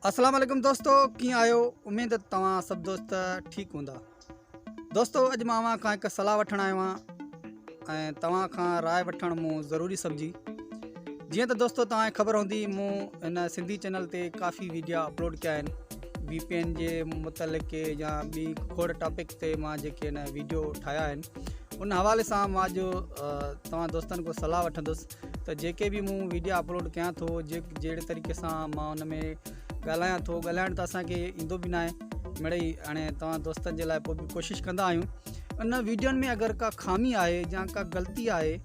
اسلام عليڪم دوستو ڪيئن آهيو اميد ته توهان سڀ دوست ٺيڪ هوندا دوستو اڄ مان اوهان کان هڪ صلاح وٺڻ آيو آهيان ۽ توهان کان راء وٺڻ مون ضروري سمجهي جيئن ته دوستو توهان کي خبر هوندي مون هن سنڌي چينل تي ڪافي ويڊيا اپلوڊ ڪيا آهن وي پي اين جي متعلق يا ٻي کوڙ ٽاپڪس تي مان جيڪي هن ويڊيو ٺاهيا آهن ان حوالي سان مان جو توهان دوستن کان صلاح وٺندس ته جيڪي به مون ويڊيا اپلوڊ ڪيان ٿو جهڙي طريقي سان مان ان ۾ ڳالهايان ٿو ڳالهائڻ ته اسانکي ايندو به ناهي مڙئي هاڻي توهان دوستن جي لاء پوء به ڪوشش ڪندا آهيون ان ويڊيوائن ۾ اگر ڪا خامي آهي يا ڪا غلطي آهي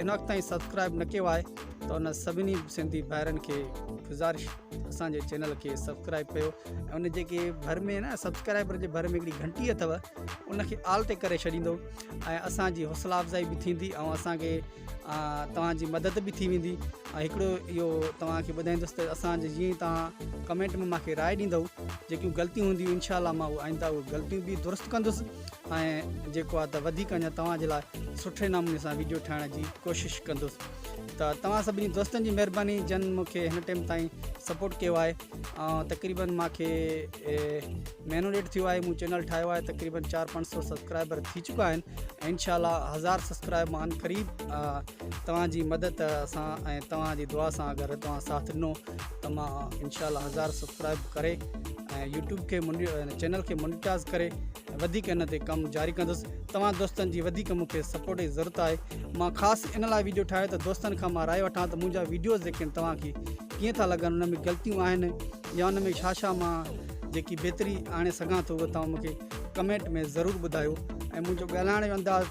ان وقت تائين سبسڪرائب نه ڪيو آهي ته ان سڀني سنڌي ڀائرن کي گذارش اسان جي چينل کي سبسڪرائب ڪيو ۽ ان جيڪي ڀر ۾ نه سبسڪرائبر جي ڀر ۾ هڪڙي گھنٽي اٿو ان کي آل تي ڪري ڇڏيندو ۽ اسان جي حوصلا افزائي به ٿيندي ۽ اسان کي توهان جي مدد به ٿي ويندي ۽ هڪڙو اهو توهان کي ٻڌائيندس ته اسان جي جيئن توهان ڪمينٽ ۾ ماکي راء ڏيندو جيڪيون غلطيون هونديون انشاء الله ماهو آئنده غلطيون به درست ڪندس ۽ جيڪو آهي ته وڌيڪ اڃا توهان جي لاء سٺي نموني سان ويڊيو ٺاهڻ جي ڪوشش ڪندس ته توهان سڀني دوستن جي مهرباني جن مونکي هن ٽيم تائين سپورٽ ڪيو آهي ۽ تقريبن مونکي مهينو ڏيڍ ٿيو آهي مون چينل ٺاهيو آهي تقريبن چار پنج سو سبسڪرائبر ٿي چڪا آهن انشاء الله هزار سبسڪرائب مان قريب توهان جي مدد سان ۽ توهان جي دعا سان اگر توهان ساٿ ڏنو ته مان انشاء الله هزار سبسڪرائب ڪري ۽ يوٽيوب کي چينل کي مونيٽائز ڪري وڌيڪ ان تي ڪم جاري ڪندس توهان دوستن جي وڌيڪ مون کي سپورٽ جي ضرورت آهي مان خاص ان لاء ويڊيو ٺاهي ته دوستن کان مان راء وٺان ته منهنجا ويڊيوز جيڪي آهن توهان کي ڪيئن ٿا لڳن ان ۾ غلطيون آهن يا ان ۾ ڇا ڇا مان جيڪي بهتري آڻي سگهان ٿو اهو توهان مون کي ڪمينٽ ۾ ضرور ٻڌايو ۽ منهنجو ڳالهائڻ جو انداز